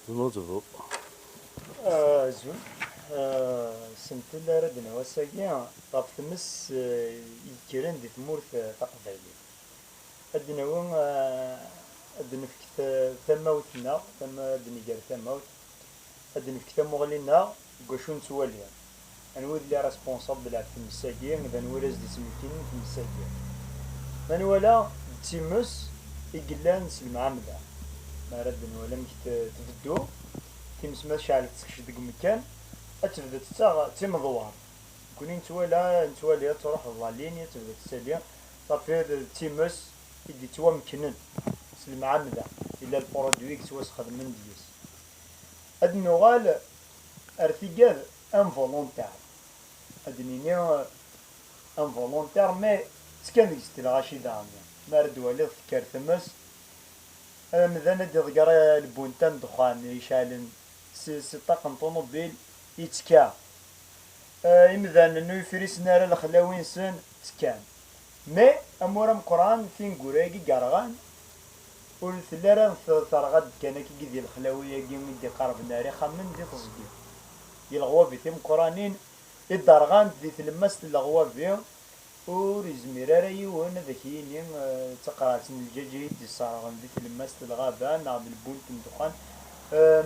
Tnuḍbeḍ. Azul. Sentel ara d-nawi ass-agi ɣef tmes yekkren di tmurt taqbaylit. Ad d-nawi, ad d-nefk tamawt-nneɣ, ad d-negger tamawt, ad d-nefk tamuɣli-nneɣ. Deg wacu nettwali? Anwa i d les responsables ɣef tmes-agi, d anwa i la s-d-ittmekkinen tmes-agi? Ma nwala d times i yellan s lemɛamda, mi ara d-nwali amek tbeddu times ma tecɛel tettekc deg umekkan, ad tebdu tettaɣ d timedwart. Nekkni nettwala, nettwali tettruḥ d la ligne, ad tebdu tettali, safi d times i yettwamekknen s lemɛamda, yella lpurudwi i yettwasxedmen deg-s. Ad d-nuɣal ar tigad involontaires, ad d-nini involontaires mais ttekkan deg-s telɣa cidɛemya, mi ara d-twaliḍ tekker tmes, amdan ad d-iḍegger lbunta n ddexxan iceɛlen si ṭṭaq n ṭunubil yettekka, imdanen ur ifrisen ara lexlawi-nsen ttekkan, Mais amur ameqqran tineggura-agi yerɣan ur telli ara terɣa-d kan akkigi di lexlawi-agi i d-iqarben ar ixxamen di teẓgi. Di leɣwabi timeqqranin i d-rɣant di tlemmast n leɣwabi ur izmir ara yiwen ad ak-yini d taqraɛt n lǧaǧ i d-iṣerɣen di tlemmast n lɣaba neɣ d lbunt n ddexxan.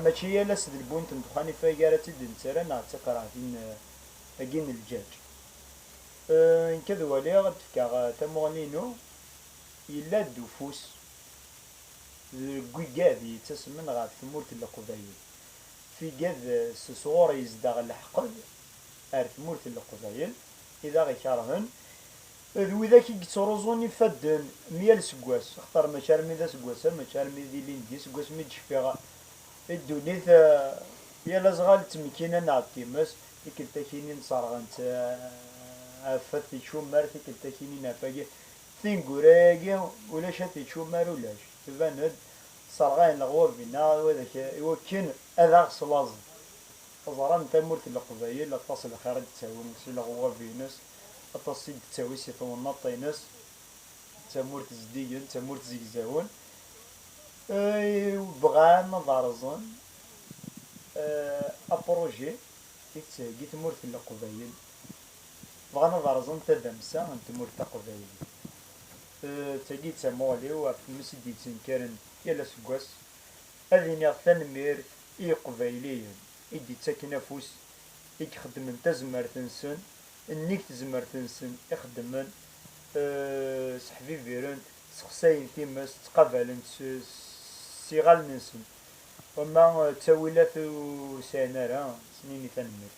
Mačči yal ass d lbunt n ddexxan ifag ara tt-id-nettarra neɣ d taqraɛtin-agi n lǧaǧ. Nekk ad waliɣ, ad d-fkeɣ tamuɣli-inu, yella-d ufus deg wigad yettasmen ɣef tmurt n Leqbayel, figad s sɣur yezdeɣ leḥqed ar tmurt n Leqbayel i d aɣ-ikerhen, d widak i yettruẓun ifadden mi yal seggas, axaṭer mačči armi d aseggas-a, mačči armi d ilindi, seg wasmi i d-cfiɣ i ddunit, yal azɣal d tmekkina neɣ d times, Tikeltakini n serɣent af at icummar tikeltakini n af agi tineggura agi ulac at icummar ulac tban-d serɣayen leɣwab inna iwakken ad aɣ slaẓen teẓram tamurt n leqbayel aṭas lxir i d-ttawi si leɣwab ines aṭas i d-ttawi si twennaḍt ines d tamurt zeddigen d tamurt zegzawen i bɣan ad rẓen Apṛuji i tettheggi Tmurt n Leqbayel, bɣan ad rẓen tadamsa n tmurt taqbaylit. D tagi i d tamuɣli-w ɣef tmes i d-yettenkaren yal aseggas. Ad iniɣ tanemmirt i Yiqbayliyen i d-yettaken afus, i ixeddmen tazmert-nsen, nnig tezmert-nsen i xeddmen, sseḥbibiren-t, ssexsayen times, ttqabalen-t s yiɣallen-nsen. Wamma d tawilat ur sɛin ara, ttnini tanemmirt.